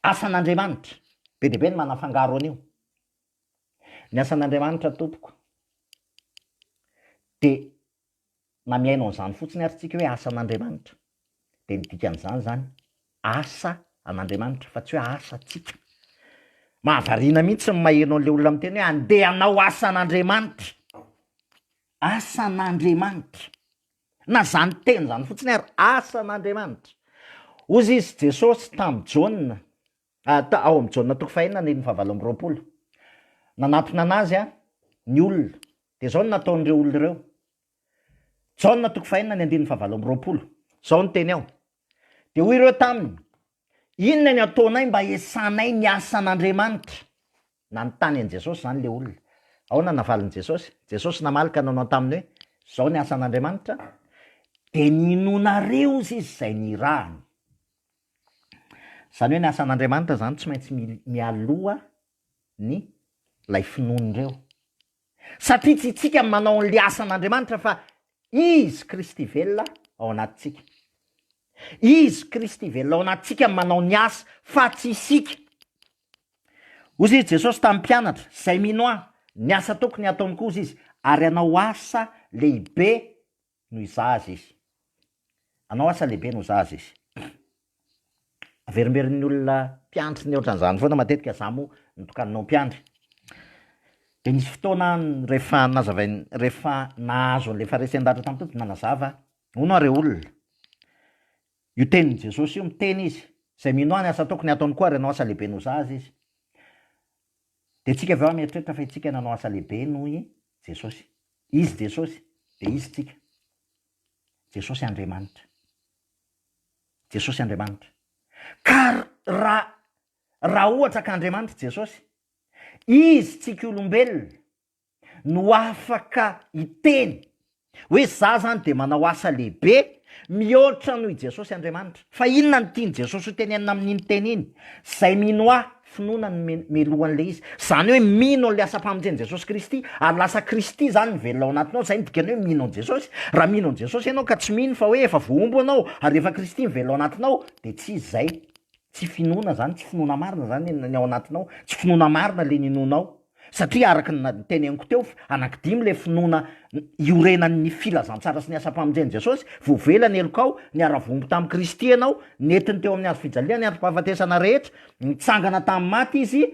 Asan'Andriamanitra. Be dia be ny manafangaro an'io. Ny asan'Andriamanitra tompoko dia na mihaino an'izany fotsiny ary tsika hoe asa an'Andriamanitra dia ny dikan'izany izany asa an'Andriamanitra fa tsy hoe asa tsika. Mahavariana mihitsy ny maheno an'ilay olona miteny hoe andeha hanao asa an'Andriamanitra, asa an'Andriamanitra, na izany teny izany fotsiny ary asa an'Andriamanitra. Hozy izy Jesosy tamin'i Jaona, Ata, ao amin'ny Jaona toko fahenina andininy fahavalo amby roapolo. Nanatona an'azy ny olona. Dia izao no nataon'ireo olona ireo. Jaona toko fahenina ny andininy fahavalo amby roapolo. Izao no teny ao. Dia hoy ireo taminy, Inona ny ataonay mba hiesanay ny asan'Andriamanitra? Nanontany an'i Jesosy izany ilay olona. Ahoana no navalin'i Jesosy? Jesosy namaly ka nanao taminy hoe, Izao ny asan'Andriamanitra, dia ny hinoanareo izy izay nirahany. Izany hoe ny asan'Andriamanitra izany tsy maintsy mialoha ny ilay finoan'ireo. Satria tsy isika no manao an'ilay asan'Andriamanitra fa Izy Kristy velona ao anatintsika. Izy Kristy velona ao anatintsika no manao ny asa fa tsy isika. Hozy izy Jesosy tamin'ny mpianatra, izay mino ahy, ny asa tokony hataony koa hozy izy, ary hanao asa lehibe no izaha azy izy. Anao asa lehibe no izaha azy izy. Averimberin'ny olona mpiandry ny ohatran'izany foana matetika, izaho moa notokaninao mpiandry. Dia nisy fotoana rehefa nazavain-, rehefa nahazo an'ilay Fariseo niratra tamin'ny Tompo dia nanazava, Hono àry olona, io tenin'i Jesosy io, miteny izy, izay mino ahy ny asa tokony hataony koa ary anao asa lehibe no izaha azy izy. Dia tsika avy eo mieritreritra fa itsika nanao asa lehibe noho i Jesosy. Izy Jesosy, dia Izy tsika. Jesosy Andriamanitra. Jesosy Andriamanitra. Ka ra, raha ohatra ka Andriamanitra Jesosy, Izy tsika olombelona, no afaka hiteny hoe za zany de manao asa lehibe mihoatra noho i Jesosy Andriamanitra. Fa inona no tian'i Jesosy hotenenina amin'iny teny iny? Izay mino ahy, finoana no melohan'ilay izy. Izany hoe mino an'ilay asam-pamonjen'i Jesosy Kristy ary lasa Kristy zany mivelona ao anatinao, izay no dikany hoe mino an'i Jesosy. Raha mino an'i Jesosy ianao ka tsy mino fa hoe efa voahombo ianao ary efa Kristy mivelona ao anatinao dia tsy izy izay. Tsy finoana izany, tsy finoana marina izany ny ao anatinao, tsy finoana marina ilay ninoanao. satria araka ny noteneniko teo fa anankidimy ilay finoana iorenan'ny filazantsara sy ny asam-pamonjen'i Jesosy, voavela ny helokao, niara-voambo tamin'i Kristy ianao, nentiny teo amin'ny hazo fijaliana ny androm-pahafatesana rehetra, nitsangana tamin'ny maty Izy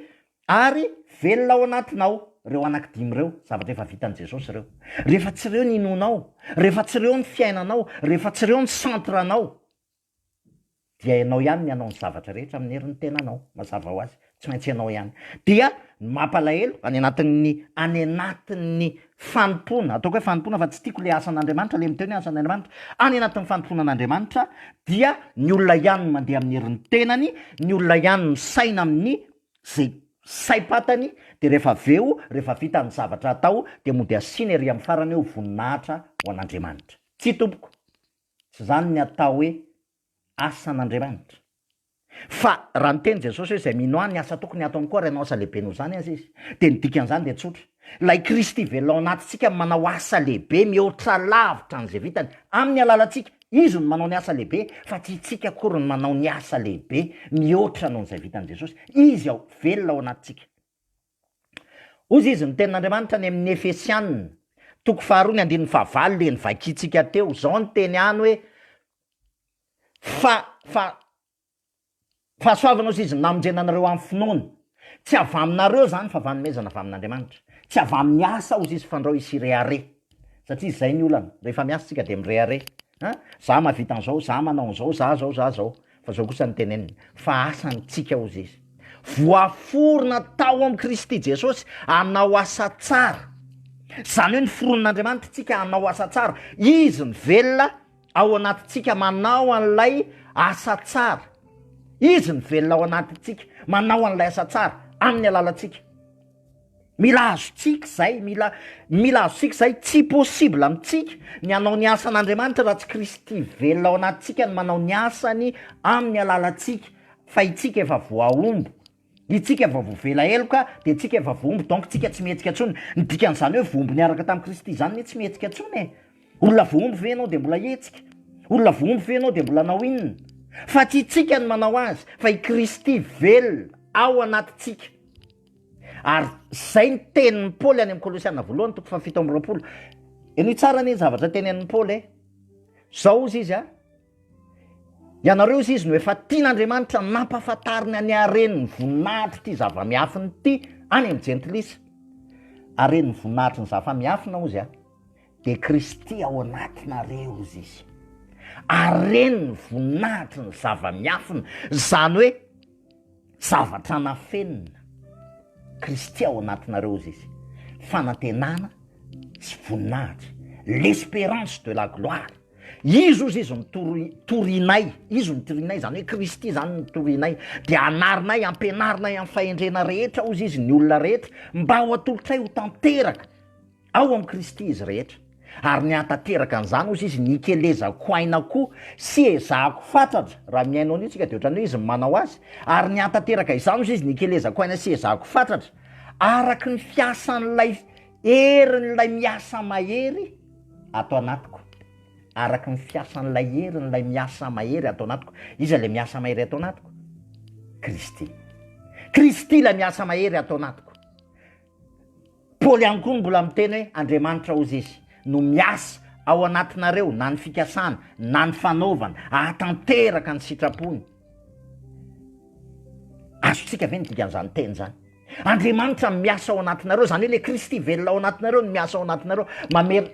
ary velona ao anatinao. Ireo anankidimy ireo, zavatra efa vitan'i Jesosy ireo. Rehefa tsy ireo ny inoanao, rehefa tsy ireo ny fiainanao, rehefa tsy ireo ny centre-nao, dia ianao ihany ny hanao ny zavatra rehetra amin'ny herin'ny tenanao, mazava ho azy, tsy maintsy ianao ihany. Dia ny mampalahelo, any anatin'ny, any anatin'ny fanompoana, ataoko hoe fanompoana fa tsy tiako ilay asan'Andriamanitra, ilay miteny hoe asan'Andriamanitra, any anatin'ny fanompoana an'Andriamanitra dia ny olona ihany no mandeha amin'ny herin'ny tenany, ny olona ihany no misaina amin'ny izay saim-patany, dia rehefa avy eo, rehefa vita ny zavatra atao dia mody asiana ery amin'ny farany hoe ho voninahitra ho an'Andriamanitra. Tsia tompoko. Tsy izany ny atao hoe asan'Andriamanitra. Fa raha niteny Jesosy hoe izay mino Ahy, ny asa tokony hataony koa ary hanao asa lehibe noho izany aza izy, dia ny dikan'izany dia tsotra. Ilay Kristy velona ao anatintsika manao asa lehibe mihoatra lavitra an'izay vitany amin'ny alalantsika. Izy no manao ny asa lehibe, fa tsy isika akory no manao ny asa lehibe mihoatra noho izay vitan'i Jesosy. Izy ao, velona ao anatintsika. Hoy izy, Ny tenin'Andriamanitra any amin'ny Efesianina, toko faharoa ny andininy fahavalo dia novakintsika teo, izao ny teny any hoe, Fa, fa, fahasoavana hozy izy no namonjena anareo amin'ny finoana, tsy avy aminareo izany fa fanomezana avy amin'Andriamanitra, tsy avy amin'ny asa hozy izy fandrao hisy hirehareha, satria izay ny olana, rehefa miasa isika dia mirehareha, A, za mahavita an'zao, za manao an'zao, za zao, za zao. Fa zao kosa no teneniny, fa asa ny tsika hozy izy. Voaforona tao am Kristy Jesosy hanao asa tsara. Zany hoe noforonin'Andriamanitra tsika hanao asa tsara. Izy mivelona ao anatintsika manao an'lay asa tsara. Izy mivelona ao anatintsika manao an'lay asa tsara amin'ny alalantsika. Mila azontsika izay, mila mila azontsika izay. Tsy possible amintsika ny hanao ny asan'Andriamanitra raha tsy Kristy velona ao anatintsika no manao ny asany amin'ny alalantsika, fa itsika efa voahombo, itsika efa voavela heloka dia itsika efa voahombo donc itsika tsy mihetsika intsony. Ny dikan'izany hoe voahombo niaraka tamin'i Kristy izany ny hoe tsy mihetsika intsony e! Olona voahombo ve ianao dia mbola hihetsika? Olona voahombo ve ianao dia mbola hanao inona? Fa tsy itsika no manao azy fa i Kristy velona ao anatintsika. Ary izay ny tenin'i Paoly any amin'ny Kolosiana voalohany toko fahafito amby roapolo. Henoy tsara anie ny zavatra tenenin'i Paoly e. Izao hozy izy a. Ianareo hozy izy no efa tian'Andriamanitra nampahafantariny any haren'ny voninahitr'ity zava-miafina ity any amin'ny jentilisa. Haren'ny voninahitry ny zava-miafina hozy a. Dia Kristy ao anatinareo hozy izy. Haren'ny voninahitry ny zava-miafina. Izany hoe Zavatra nafenina Kristy ao anatinareo izy izy, fanantenana sy voninahitra, l'espérance de la gloire. Izy ozy izy no tori- torianay, izy no torianay, izany hoe Kristy izany no torianay, dia anarinay, ampianarinay amin'ny fahendrena rehetra ozy izy ny olona rehetra, mba ho atolotray ho tanteraka. Ao amin'i Kristy izy rehetra, ary nihatanteraka an'izany osa izy, nikelezako aina koa sy ezahako fatratra, raha mihaino an'io tsika dia ohatran'ny hoe izy no manao azy, ary nihatanteraka izany osa izy, nikelezako aina sy ezahako fatratra, araka ny fiasan'ilay herin'ilay miasa mahery ato anatiko, araka ny fiasan'ilay herin'ilay miasa mahery ato anatiko. Iza ilay miasa mahery ato anatiko? Kristy. Kristy ilay miasa mahery ato anatiko. Paoly ihany koa no mbola miteny hoe, Andriamanitra hozy Izy no miasa ao anatinareo na ny fikasana na ny fanaovana ahatanteraka ny sitrapony. Azontsika ve ny dikan'izany teny izany? Andriamanitra no miasa ao anatinareo, izany hoe ilay Kristy velona ao anatinareo no miasa ao anatinareo,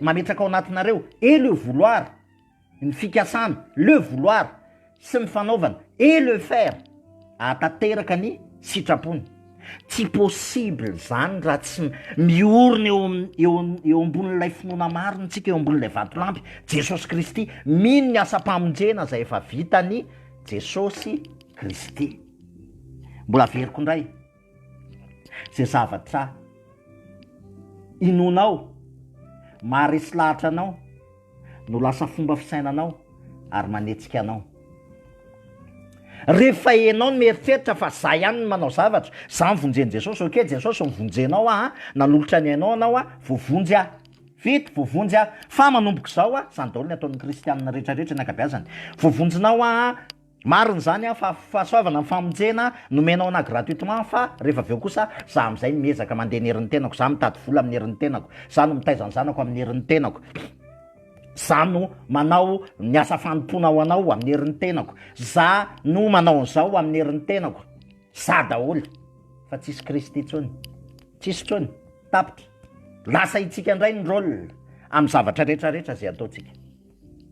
mametraka ao anatinareo elo io voloara, Ny fikasana, le vouloir, sy ny fanaovana, et le faire, ahatanteraka ny sitrapony. Tsy possible izany raha tsy miorina eo eo eo ambonin'ilay finoana marina isika eo ambonin'ilay vatolampy, Jesosy Kristy, mino ny asam-pamonjena izay efa vitan'i Jesosy Kristy. Mbola averiko indray. ze zavatra inoanao, maharesy lahatra anao no lasa fomba fisainanao ary manetsika anao. Rehefa enao no mieritreritra fa za ihany no manao zavatra, za no vonjen'i Jesosy, ok Jesosy no vonjenao aho an, nanolotra ny ainao anao aho, voavonjy aho, vita, voavonjy aho, fa manomboka izao an, zany daholo ny ataon'ny kristianina retraretra ny ankabeazany, voavonjinao aho an, Marina izany an, fa fahasoavana ny famonjena nomenao anah gratuitement fa rehefa avy eo kosa zah amin'izay no miezaka mandeha ny herin'ny tenako, zah mitady vola amin'ny herin'ny tenako, zah no mitaiza ny zanako amin'ny herin'ny tenako, zah no manao ny asa fanompoana ho anao amin'ny herin'ny tenako, zah no manao an'izao amin'ny herin'ny tenako, zah daholo fa tsisy Kristy intsony, tsisy intsony, tapitra, lasa itsika indray ny rôle amin'ny zavatra retraretra izay ataontsika.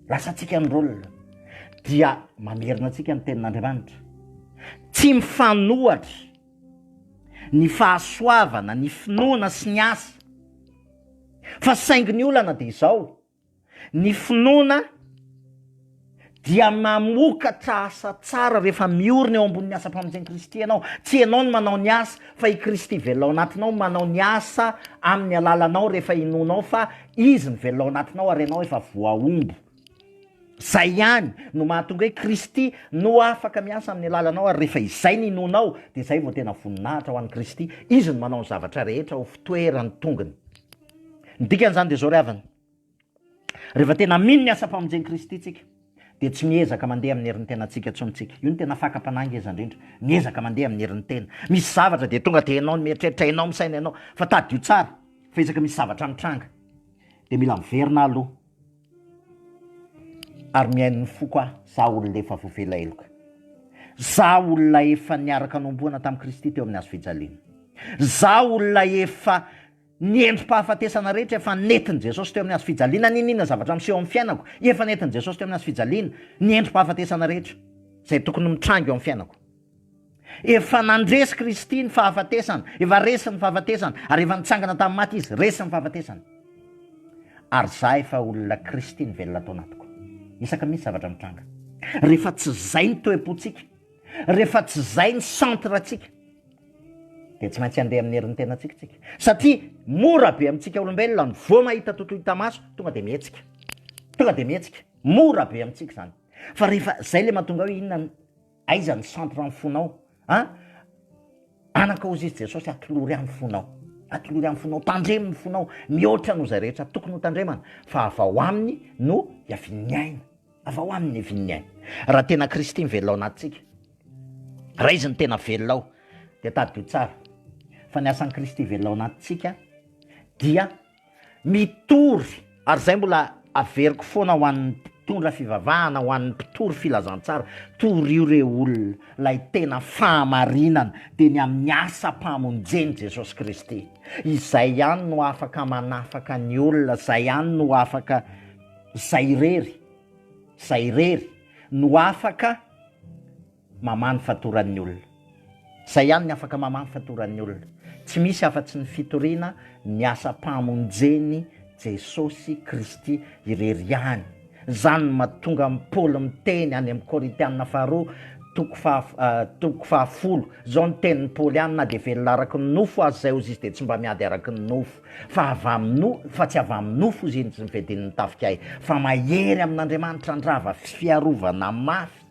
lasantsika ny rôle dia mamerina antsika ny tenin'Andriamanitra, tsy mifanohatra ny fahasoavana, ny finoana sy ny asa fa saingy ny olana dia izao, ny finoana dia mamokatra asa tsara rehefa miorina eo ambonin'ny asam-pamonjen'i Kristy ianao, tsy ianao no manao ny asa fa i Kristy velona ao anatinao manao ny asa amin'ny alalanao rehefa inoanao fa Izy mivelona ao anatinao ary ianao efa voahombo. Izay ihany no mahatonga hoe Kristy no afaka miasa amin'ny alalanao ary rehefa izay no inoanao dia izay vao tena voninahitra ho an'i Kristy. Izy no manao ny zavatra rehetra ho fitoeran'ny tongony. Ny dikan'izany dia izao ry havana, rehefa tena mino ny asam-pamonjen'i Kristy isika, dia tsy miezaka mandeha amin'ny herin'ny tenantsika intsony isika. Io no tena fakam-panahy ngeza indrindra. Miezaka mandeha amin'ny herin'ny tena. Misy zavatra dia tonga dia ianao no mieritreritra, ianao no misaina, ianao. Fa tadidio tsara fa isaka misy zavatra mitranga dia mila miverina aho aloha ary mihaino ny foko aho, izaho olona efa voavela heloka. Izaho olona efa niaraka nohomboana tamin'i Kristy teo amin'ny hazofijaliana. Izaho olona efa Ny endri-pahafatesana rehetra efa nentin'i Jesosy teo amin'ny hazo fijaliana, n'inon'inona zavatra miseho amin'ny fiainako, efa nentin'i Jesosy teo amin'ny hazo fijaliana, ny endri-pahafatesana rehetra izay tokony ho mitranga eo amin'ny fiainako. Efa nandresy Kristy ny fahafatesana, efa resy ny fahafatesana, ary efa nitsangana tamin'ny maty Izy, resy ny fahafatesana. Ary za efa olona Kristy nivelona tao anatiko. Isaka mihitsy zavatra mitranga. Rehefa tsy izay ny toe-pontsika, rehefa tsy izay ny centre-ntsika, dia tsy maintsy handeha amin'ny herin'ny tenantsika isika. Satria mora be amintsika olombelona ny vao mahita totoa hita maso, tonga dia mihetsika. Tonga dia mihetsika. Mora be amintsika izany. Fa rehefa izay ilay mahatonga hoe inona ny aiza ny centre ny fonao? A anankaozy izy Jesosy atolory amin'ny fonao. Atolory amin'ny fonao, tandremo ny fonao mihoatra noho izay rehetra tokony ho tandremana fa avy ao aminy no iavian'ny aina. Avy ao aminy ny vin'ny aina. Raha tena Kristy mivelona ao anatintsika, Raiso ny tena velona ao dia tadidio tsara fa ny asan'i Kristy velona ao anatintsika dia mitory ary izay mbola averiko foana ho an'ny mpitondra fivavahana, ho an'ny mpitory filazantsara, torio re olona ilay tena fahamarinana dia ny amin'ny asam-pamonjen'i Jesosy Kristy. Izay ihany no afaka manafaka ny olona, izay ihany no afaka izay irery. Zay irery no afaka mamaha ny fatoran'ny olona. Zay ihany ny afaka mamaha ny fatoran'ny olona. Tsy misy afa-tsy ny fitoriana ny asam-pahamonjen'i Jesosy Kristy irery ihany. Izany no mahatonga an'i Paoly miteny any amin'ny Korintiana faharoa toko faha, toko fahafolo izao ny tenin'i Paoly any, na dia velona araka ny nofo aza izay ozy izy dia tsy mba miady araka ny nofo. Fa avy amin'ny fa tsy avy amin'ny nofo izy iny tsy nifedin'ny tafika ahy fa mahery amin'Andriamanitra handrava fiarovana mafy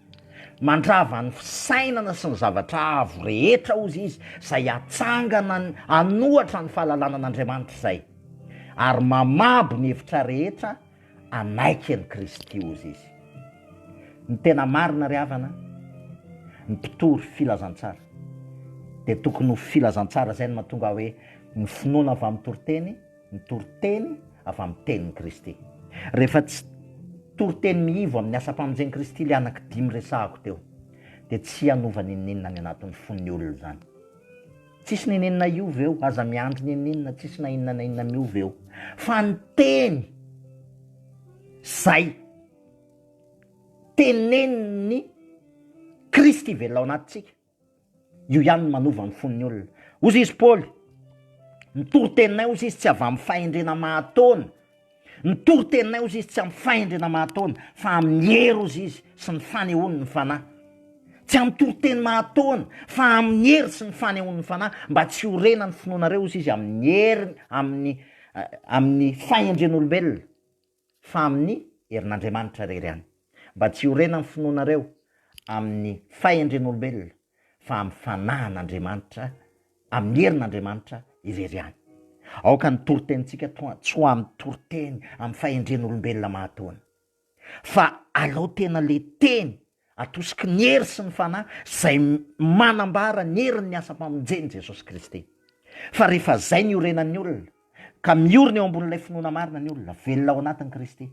mandrava ny fisainana sy ny zavatra avo rehetra hozy izy izay hatsangana hanohatra ny fahalalana an'Andriamanitra izay ary mamabo ny hevitra rehetra hanaiky an'i Kristy ho Izy. Ny tena marina ry havana, ny mpitory filazantsara dia tokony ho filazantsara izay no mahatonga ahy hoe ny finoana avy amin'ny toriteny, ny toriteny avy amin'ny tenin'i Kristy. Rehefa tsy toriteny mihivo amin'ny asam-pamonjen'i Kristy ilay anaky dimy resahako teo, dia tsy hanova n'inon'inona ny anatin'ny fon'ny olona izany. Tsisy nenenina io ve o? Aza miandry nenenina tsisy na inona na inona miova eo fa ny teny zay tenenin'ny Kristy velona ao anatintsika io ihany no manova ny fon'ny olona. Hozy izy Paoly, ny toriteninay hozy izy tsy avy amin'ny fahendrena mahataona Ny toriteninay ozy izy tsy amin'ny fahendrena mahatoana fa amin'ny hery ozy izy sy ny fanehoany ny Fanahy. Tsy amin'ny toriteny mahatoana fa amin'ny hery sy ny fanehoany ny Fanahy mba tsy ho rena ny finoanareo ozy izy amin'ny hery amin'ny amin'ny fahendren'olombelona fa amin'ny herin'Andriamanitra irery ihany. Mba tsy ho rena ny finoanareo amin'ny fahendren'olombelona fa amin'ny fanahin'Andriamanitra, amin'ny herin'Andriamanitra irery ihany. Aoka ny toritenintsika toa tsy ho amin'ny toriteny amin'ny fahendren'olombelona mahatoana, fa alao tena le teny atosiky ny hery sy ny fanahy izay manambara ny herin'ny asam-pamonjen'i Jesosy Kristy. Fa rehefa izay ny iorenan'ny olona, ka miorina eo ambonin'ilay finoana marina ny olona, velona ao anatin'i Kristy.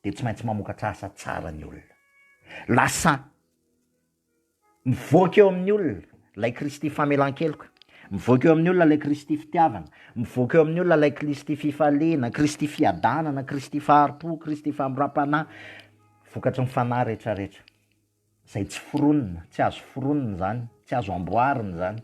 dia tsy maintsy mamokatra asa tsara ny olona. Lasa mivoaka eo amin'ny olona ilay Kristy famelan-keloka, mivoaka eo amin'ny olona ilay Kristy fitiavana, mivoaka eo amin'ny olona ilay Kristy fifaliana, Kristy fiadanana, Kristy fahari-po, Kristy famindram-panahy, vokatry ny fanahy rehetrarehetra. izay tsy foronina, tsy azo foronina izany, tsy azo amboarina izany.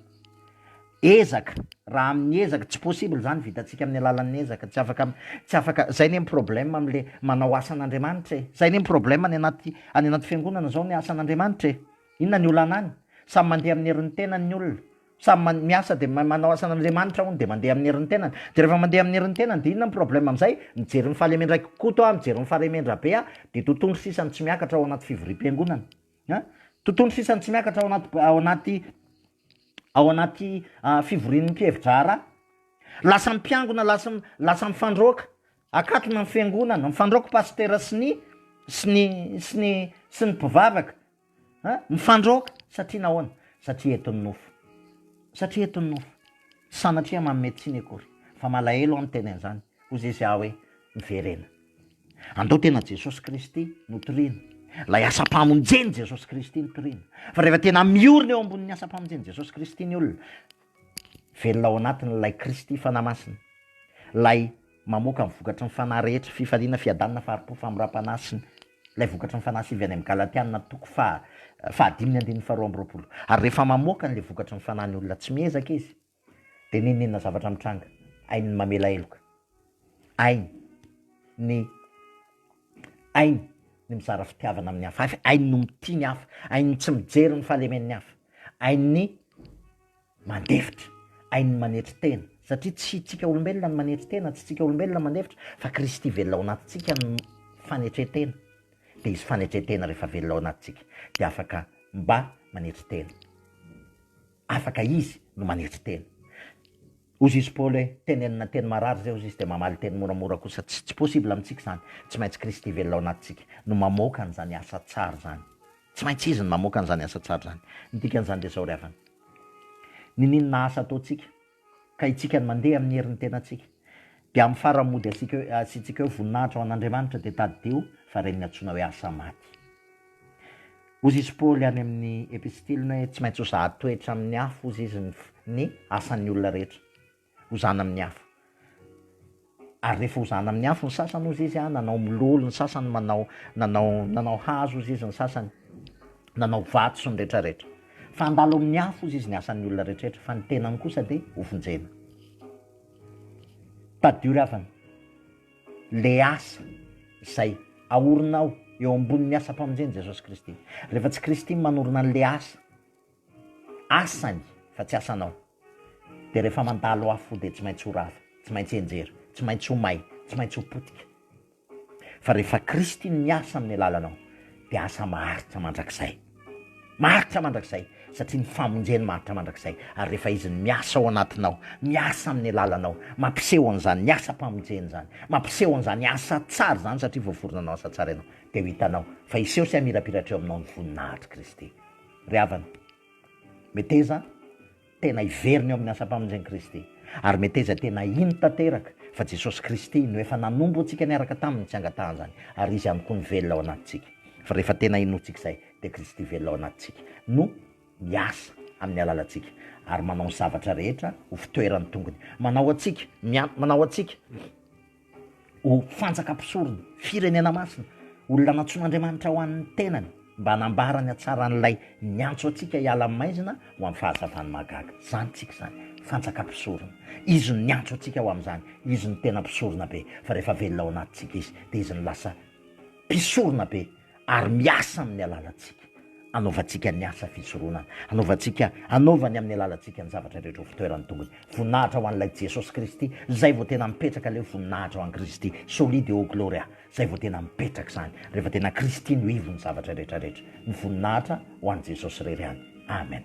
Ezaka, raha amin'ny ezaka, tsy possible izany, vitantsika amin'ny alalan'ny ezaka, tsy afaka, tsy afaka, izay anie ny problème amin'ilay manao asan'Andriamanitra e, izay anie ny problème any anaty, any anaty fiangonana izao ny asan'Andriamanitra e, inona ny olana any? Samy mandeha amin'ny herin'ny tenany ny olona, Samy man- miasa dia mahay manao asa an'Andriamanitra hono dia mandeha amin'ny herin'ny tenany. Dia rehefa mandeha amin'ny herin'ny tenany dia inona ny problème amin'izay? Mijery ny fahalemendraiky Koto aho, mijery ny fahalemendrabe aho dia totohondry sisa no tsy miakatra ao anaty fivoriam-piangonana. An? Totohondry sisa no tsy miakatra ao anaty ao anaty ao anaty ah, fivorian'ny mpihevi-draharaha. Lasa mpiangona, lasa m- lasa mifandroaka. Akatona ny fiangonana, mifandroaka pastera sy ny sy ny sy ny sy ny mpivavaka. Mifandroaka satria nahoana? Satria eto ny nofo. Satria eto ny nofo. Tsy sanatria manome tsiny akory. Fa malahelo aho miteny an'izany. Hoy Jeso ahy hoe, Miverena. Andao tena Jesosy Kristy no toriana. Ilay asam-pamonjen'i Jesosy Kristy no toriana. Fa rehefa tena miorina eo ambonin'ny asam-pamonjen'i Jesosy Kristy ny olona, velona ao anatin'ilay Kristy Fanahy Masina, ilay mamoaka ny vokatry ny Fanahy rehetra, fifaliana, fiadanana, fahari-po, famindram-panahy, sy ny. Ilay vokatry ny fanahy sy avy any amin'ny Galatiana toko faha fahadimy ny andininy faharoa amby roapolo. Ary rehefa mamoaka an'ilay vokatry ny fanahy ny olona tsy miezaka izy, dia nenenina zavatra mitranga, hainy ny mamela heloka, hainy ny hainy ny mizara fitiavana amin'ny hafa, hainy no mitia ny hafa, hainy ny tsy mijery ny fahalemen'ny hafa, hainy ny mandefitra, ain'ny manetry tena, satria tsy tsika olombelona no manetry tena, tsy tsika olombelona mandefitra fa Kristy velona ao anatintsika no fanetren-tena, dia izy fanetren-tena rehefa velona ao anatintsika dia afaka mba manetry tena, afaka izy no manetry tena. Hozy izy Paoly hoe, tenenina teny marary zay, hozy izy dia mamaly teny moramora kosa, tsy possible amintsika izany, tsy maintsy Kristy velona ao anatintsika no mamoaka an'izany asa tsara izany. Tsy maintsy izy no mamoaka an'izany asa tsara izany. Ny dikan'izany dia izao ry havana. Niniana asa ataontsika, ka isika no mandeha amin'ny herin'ny tenantsika. Dia amin'ny faran'ny mody asiaka eo, asiantsika eo voninahitra ho an'Andriamanitra, dia tadidio fa ireny no antsoina hoe asa maty. Hozy izy Paoly any amin'ny epistiliny hoe tsy maintsy ho sahady toetra amin'ny hafa hozy izy ny ny asan'ny olona rehetra. hozana amin'ny afo. Ary rehefa hozana amin'ny afo ny sasany hozy izy a, nanao mololo ny sasany, manao nanao nanao hazo hozy izy ny sasany, nanao vato sy ny retraretra. Fa handalo amin'ny afo hozy izy ny asan'ny olona retraretra fa ny tenany kosa dia hovonjena. Tadidio ry havana, le asa izay aorinao eo ambonin'ny asam-pamonjen'i Jesosy Kristy. Rehefa tsy Kristy no manorina an'le asa, asany fa tsy asanao dia rehefa mandalo afo dia tsy maintsy ho rava, tsy maintsy henjera, tsy maintsy ho may, tsy maintsy ho potika. Fa rehefa Kristy no miasa amin'ny alalanao dia asa maharitra mandrakizay. Maharitra mandrakizay satria ny famonjeny maharitra mandrakizay ary rehefa Izy no miasa ao anatinao, miasa amin'ny alalanao, mampiseho an'izany ny asam-pamonjeny izany, mampiseho an'izany asa tsara izany satria voaforona hanao asa tsara ianao dia ho hitanao fa hiseho sy hamirapiratra eo aminao ny voninahitr'i Kristy. ry havana. Meteza tena hiverina eo amin'ny asam-pamonjen'i Kristy. Ary meteza tena hino tanteraka fa Jesosy Kristy no efa nanompo antsika niaraka taminy tsy angatahan'izany, ary Izy ihany koa no velona ao anatintsika. Fa rehefa tena inoantsika izay, dia Kristy velona ao anatintsika no miasa amin'ny alalantsika, ary manao ny zavatra rehetra ho fitoeran'ny tongony manao antsika, miantona anao antsika. ho fantsaka mpisorona, firenena masina, olona nantsoin'Andriamanitra ho an'ny tenany, mba hanambara ny hatsaran'Ilay niantso antsika hiala amin'ny maizina ho amin'ny fahazavan'ny mahagaga. Izany tsika izany, fantsaka mpisorona. Izy no niantso antsika ho amin'izany. Izy no tena mpisoronabe, fa rehefa velona ao anatintsika Izy, dia Izy no lasa mpisoronabe. ary miasa amin'ny alalantsika, anaovantsika ny asa fisoronana, anaovantsika, anaovany amin'ny alalantsika ny zavatra rehetra ho fitoeran'ny tongony. Voninahitra ho an'ilay Jesosy Kristy, izay vao tena mipetraka ilay hoe voninahitra ho an'i Kristy, Soli Deo Gloria, izay vao tena mipetraka izany, rehefa tena Kristy no ivon'ny zavatra rehetra rehetra. Ny voninahitra ho an'i Jesosy irery ihany. Amen.